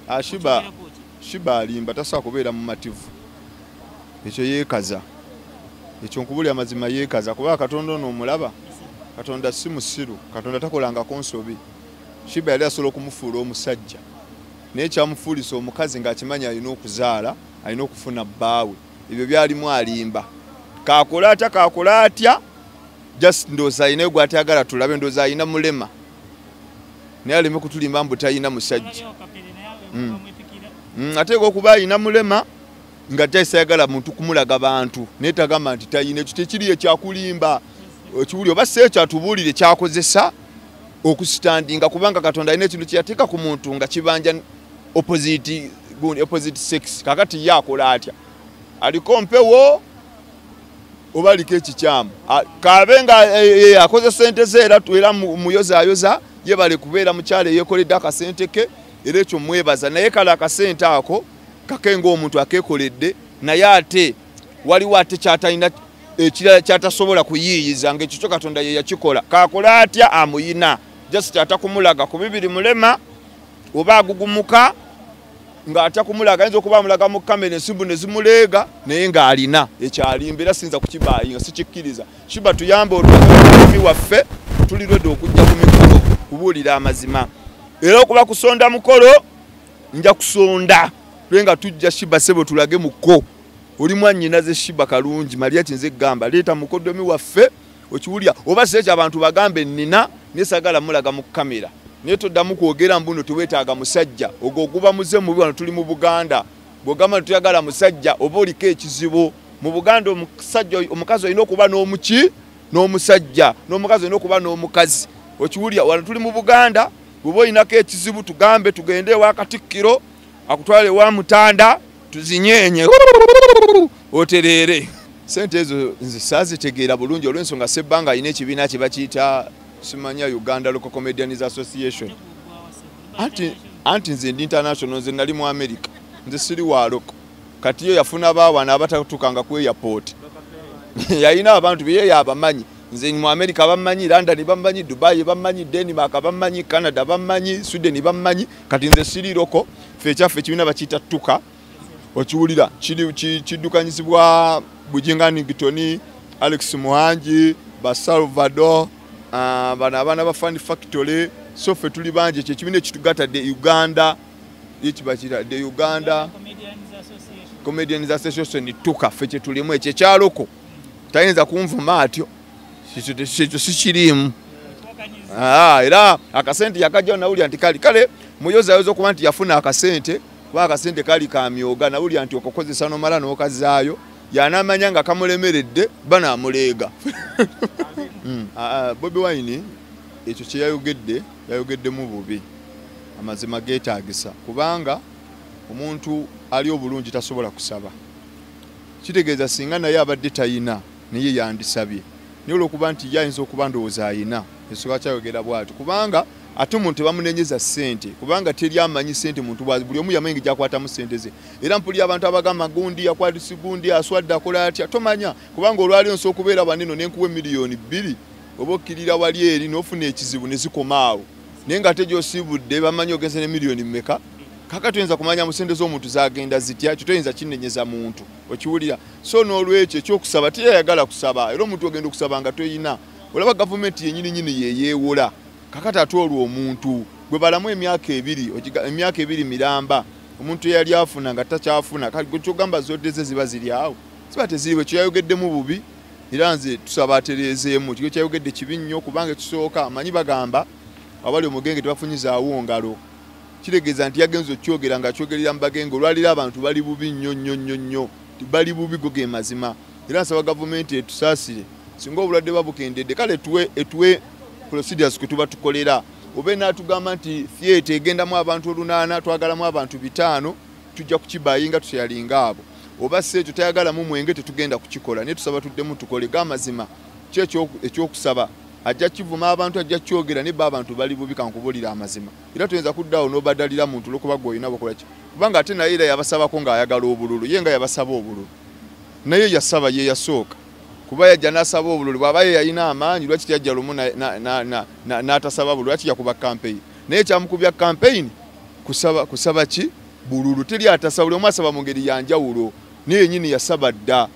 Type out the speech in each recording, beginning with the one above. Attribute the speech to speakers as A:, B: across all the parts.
A: Ah, shiba shiba alimba tasobola kubeera mumativu ekyo yeekaza ekyo nkubuli amazima yeekaza kubanga katonda ono omulaba katonda si musiru katonda takolangako nsobi shiba yali asobola okumufuula omusajja naye kyamufuulisa omukazi ng'akimanyi alina okuzaala alina okufuna bbaawe ebyo byalimu alimba kakola atya kakola atya just ndoozi alinayo gwatayagala tulabe ndoozi alina mulema naye aleme kutulimba mbu talina musajja mm. mm, ateeka okuba alina mulema nga taisayagala muntu kumulaga bantu naye tagamba nti talina ekyo tekiri ekyakulimba ekiwuli oba si ekyo atubuulire kyakozesa okusitandinga kubanga katonda alina ekintu kyeyateeka ku muntu nga kibanja opposite sex kakati ye akola atya aliko mpewo oba aliko ekikyamu kaabe nga e, e, e, akoze sente ze era era muyozayoza yebale kubeera mukyalo eyekoledde akasente ke era ekyo mwebaza naye kale akasente ako kake ngaomuntu akekoledde naye ate waliwo ate kyatalina ekirala kyatasobola kuyiiyiza ngaekyo kyo katonda ye yakikola kakole atya amuyina just atakumulaga ku bibiri mulema oba agugumuka ng'atya kumulaga ayinza okuba amulaga mu kamera ensimbu ne zimuleega naye ng'alina ekyalimba era siyinza kukibaayi nga sikikkiriza shiba tuyamba olulimi waffe tuli lwedde okujja ku mikolo kubuulira amazima era okuba kusonda mukolo nja kusonda tule nga tujja shiba sebo tulage muko oli mwannyinaze shiba kalungi maria kinze gamba leeta mukodomi waffe okiwulira oba si ekyo abantu bagambe nina naye sagala mulaga mu kamera naye toddamu kwogera mbuno tewetaaga musajja ogwo oguba muze mubi wano tuli mu buganda bwogamba nti tuyagala musajja oba oliko ekizibu mu buganda omusajja omukazi olina okuba n'omuki n'omusajja n'omukazi olina okuba n'omukazi okiwulira wano tuli mu buganda bweba olinako ekizibu tugambe tugende ewa katikkiro akutwala ewa mutanda tuzinyenye otereere sente ezo nze saazitegeera bulungi olw'ensonga sebbanga alina ekibiina kye bakiyita simanya uganda local comedians association anti nze ndi international nze nali mu america nze siri waaloko kati yo yafuna baawana abatatuukanga ku airport yalina abantu bye yabamanyi nze mu america bammanyi london bammanyi dubai bammanyi denmark bammanyi canada bammanyi sweden bammanyi kati nze siri loko fe ekyaffe ekibiina bakiyita tuka okiwulira kiddukanyizibwa bujinga nigitoni alex muhangi basalvador ah, bano abaana ba fund factory so fe tuli bangi ekyo ekibiina ekitugata de uganda yekibakira de uganda comedians association tuka fe kyetulimu ekyo ekyaloko tayinza kunvuma atyo ekyo sikiriimu ah, era akasente yakajjawo nawulira nti kali kale muyozayoza okuba nti yafuna akasente kuba akasente kali kamyoga nawulira nti okukozesa nomala nokazaayo yanamanya nga kamulemeredde banamuleega hmm. ah, ah, bobi wine ekyo kyeyayogedde yayogeddemu bubi amazima getagisa kubanga omuntu ali obulungi tasobola kusaba kitegeeza singa naye abadde tayina naye yandisabye naye olwokuba nti ye ayinza okuba ndowooza ayina esobola kyayogera bwati kubanga ate omuntu tebamunenyeza sente kubanga teri amanyi sente muntu bwazi buli omu yamanyi gyakwatamu sente ze era mpulira abantu abagamba gundi yakwatisi gundi aswadde akola atya tomanya kubanga olwali onsi okubeera waneno nenkuwa emiliyoni bbiri oba okkirira wali eri nofuna ekizibu nezikomaawo naye nga ate gyosiibudde bamanyi ogenze ne miliyoni mmeka kaka tuyinza kumanya mu sente z'omuntu zagenda zitya kyo toyinza kinenyeza muntu okiwulira so n'olwekyo ekyokusaba teyayagala kusaba era omuntu ogenda okusaba nga toyina olaba gavumenti yenyini nyini yeyeewola kakati ate olwo omuntu gwe balamu emyaka ebiri emyaka ebiri miramba omuntu eyali afuna nga takyafuna kyogamba zodde ze ziba ziri awo ziba teziriwo ekyo yayogeddemu bubi era nze tusaba atereezeemu kiko kyayogedde kibi nnyo kubanga ekisooka amanyi bagamba abali omugenge tebafunyizaawo ngalo kitegeeza nti yagenza okyogera nga akyogerera mu bagenge olwaliro abantu bali bubi nnyo nnyo nnyo nnyo bali bubi go ge mazima era nsaba gavumenti etusaasire singa obulwadde buba bukendedde kale tuwe etuwe procedures kwe tuba tukolera oba enaatugamba nti theatre egendamu abantu olunaana twagalamu abantu bitaano tujja kukibayinga tuseyalinga abo oba si ekyo tayagalamu mwenge tetugenda kukikola naye tusaba tuddemu tukole ga mazima ki ekyokusaba ajja kivuma abantu ajja kyogera naye ba abantu bali bubi kankubulira amazima era toyinza kudda awo n'obadalira muntu olwokuba gwe olina bakola ki kubanga ate naye era yabasabako ng'ayagala obululu ye nga yabasaba obululu naye yasaba ye yasooka kuba yajja n'asaba obululu bw'aba ye yalina amaanyi lwaki teyajja lumu n'atasaba bululu lwaki yakuba kampeyini naye kyamukubya kampeyini kusaba kusaba ki bululu teri atasaba buli omu asaba mu ngeri yanjawulo naye yenyini yasaba dda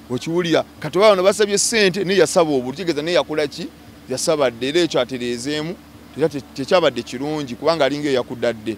A: okiwulira kati oba bano basabye ssente naye yasaba obulu kitegeeza naye yakola ki yasabadde era ekyo atereezeemu era tekyabadde kirungi kubanga alinga eyakudadde